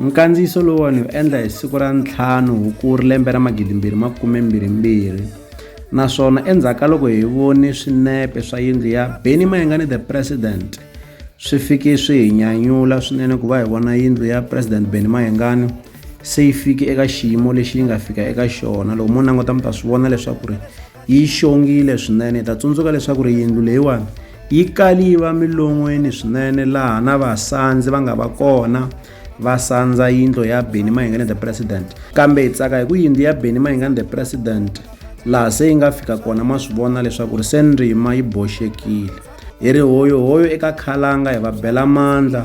Nkandziyiso lowuwani wu endla hi siku ra ntlhanu Hukuri lembe ra magidimbirhi makume mbirhi mbirhi naswona endzhaku ka loko hi vone swinepe swa yindlu ya Benny Mayengani the President swi fike swi hi nyanyula swinene ku va hi vona yindlu ya President Benny Mayengani se yi fike eka xiyimo lexi yi nga fika eka xona loko mo languta mi ta swi vona leswaku ri yi xongile swinene hi ta tsundzuka leswaku ri yindlu leyiwani yi kali yi va milon'weni swinene laha na vasandzi va nga va kona va sandza yindlo ya beni mahingane the president kambe hi tsaka hi ku yindlu ya beni mahingane the president laha se yi nga fika kona ma swi vona leswaku ri se ndzima yi boxekile hi ri hoyohoyo eka khalanga hi va bela mandla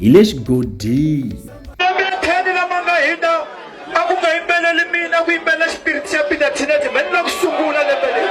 hi le xigodini ematheni lama nga hina a ku nga yimbeleli mina ku yimbelela xipiriti xa peter tinete mani la ku sungula lembe leri